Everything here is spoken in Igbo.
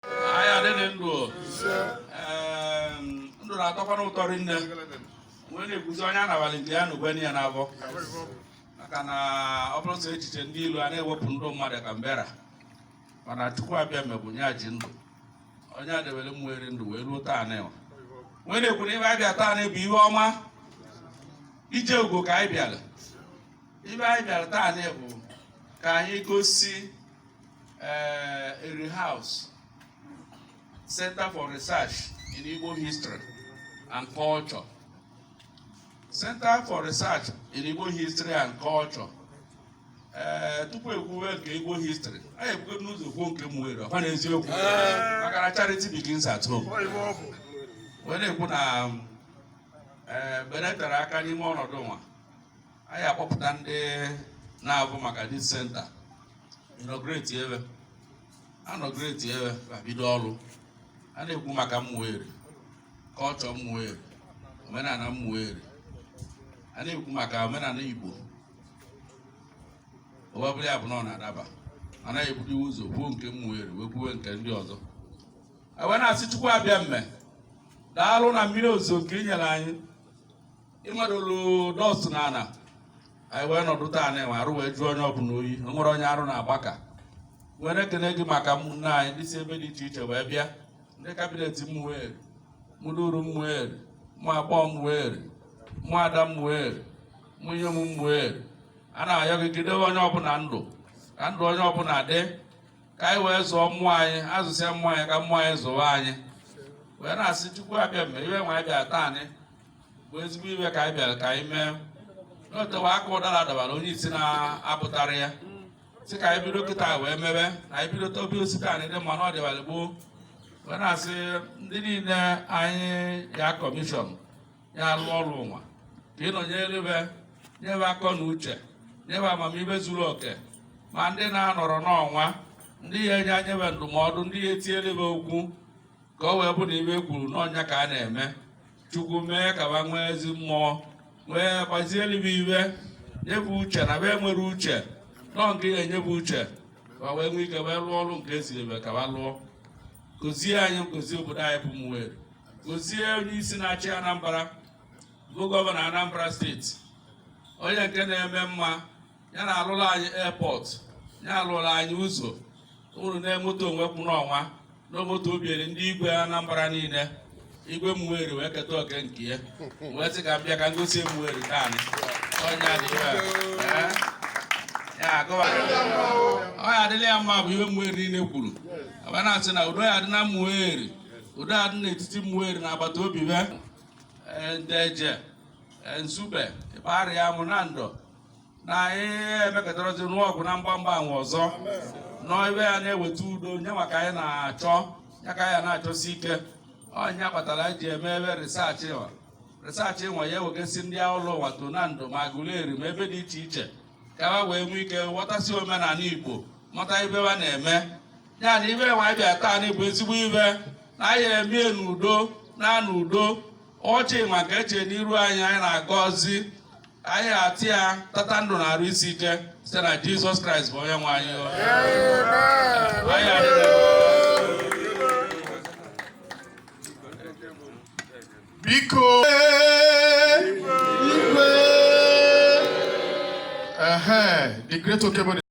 anyị adịrị ndụ ndụ na-atọkwana ụtọ rinne wee na-ekwuzi onye anabalị nke ya na ugwe ya n'afọ maka na ọ bụrụ sọ echiche ndị ilo a na-ewepụ ndụ mmadụ ka mbera mana chukwu abịama bụ onye ji ndụ onye edebere ụmụeri ndụ wee ruo taa nwa wee na-ekwu na ive a bịa taa nwa bụ ihe ọma ije ugo ka anyị bịara ive anyị bịara taa nwa bụ ka anyị gosi uh, Eri House Center for Research in Igbo History and Culture. Center for Research in Igbo History and Culture. Eh, tupu ekwuwe nke Igbo history anyị ebugodu ụzọ kwuo nke Ụmụeri ọkwa n'eziokwu eh. maka na charity begins at home wee na-ekwu na eh, beretara aka n'ime ọnọdụ nwa anyị akpọpụta ndị na-avụ maka this center inaugurate be a inaugurate be ma bido ọrụ a na-ekwu maka ụmụeri culture ụmụeri omenala ụmụeri a na-ekwu maka omenala igbo ọ bụrụ ya bụ na ọ na-adaba anyị ebugodu ụzọ kwuo nke ụmụeri wee kwuwe nke ndị ọzọ wee na-asị chukwu abịama daalụ na mmiri ozuzo nke i nyere anyị ị madolu dust na ana anyị wee nọdụ taa nwa arụ wee jụọ onye ọbụla oyi o nwerọ onye arụ na-agbaka wee na-ekene gị maka ụmụnne anyị ndị si ebe dị iche iche wee bịa ndị cabinet ụmụeri ụmụduru ụmụeri ụmụ agbọọ ụmụeri ụmụ ada ụmụeri ụmụ inyom ụmụeri a na-ayọ gị jide onye ọbụla ndụ ka ndụ onye ọbụla dị ka anyị wee zụọ ụmụ anyị azụsịa ụmụ anyị ka ụmụ anyị zụwa anyị wee na-asị chukwu abịama ive nwa anyị bịa taanị bụ ezigbo ive ka anyị bịara ka anyị mee na o tewa aka ụdara dabara onye isi na-apụtara ya sị ka anyị bido kịta wee mebe na anyị bido tobi osisi anyị dị mma na ọ dịbalị gboo wee na-asị ndị niile anyị ya commission ya alụ ọrụ nwa ka ị nọnyere be nye be akọ na uche nye be amamihe zuru oke ma ndị na-anọrọ n'ọnwa ndị ya enye be ndụmọdụ ndị ya etinyere be okwu ka o wee bụ na ive e kwuru n'ọnụ ka a na-eme chukwu mee ka ba nwee ezi mmụọ wee gbazielu be ive nye be uche na be nwere uche nọ nke ya enye be uche ka wee nwee ike wee lụọ ọrụ nke e ziri be ka ba lụọ gozie anyị gozie obodo anyị bụ Ụmụeri gozie onye isi na-achị Anambra bụ governor Anambra State onye nke na-eme mma ya na-alụrụ anyị airport ya alụrụ anyị ụzọ unu na-emoto onwe kwụ n'ọnwa na moto o bunyere ndị igwe Anambra niile igwe Umueri wee keta oke nke ya wee sị ka m bịa ka m gosi Umueri taa onye adịghị ọ ya adịla ya mma bụ ihe Umueri niile kwuru aba na-asị na udo ya adị na Umueri udo adị n'etiti Umueri na agbata obi be Nteje Nsugbe Igbariam Nando na anyị emekọtarazi nụọ ọgụ na mgbamgba anwe ọzọ na ive ya-eweta udo nya ka anyị na-achọ ya ka anyị na-achọsi ike ọ nya kpatara anyị ji eme ive research nwa research nwa ya ewegasị ndị ụlọ ụwa to Nando ma Aguleri ma ebe dị iche iche ka ha wee nwee ike ghọtasị omenala igbo mata ive ha na-eme ya na ive nwa anyị bịa taa na igbo ezigbo ive na anyị emie n'udo na n'udo ọchị nwa ka eche n'iru anyị anyị na-agọzi anyị atị ya tata ndụ na arụ isi ike site na jizọs kraịst bụ onye nwe anyị biko the great Okebo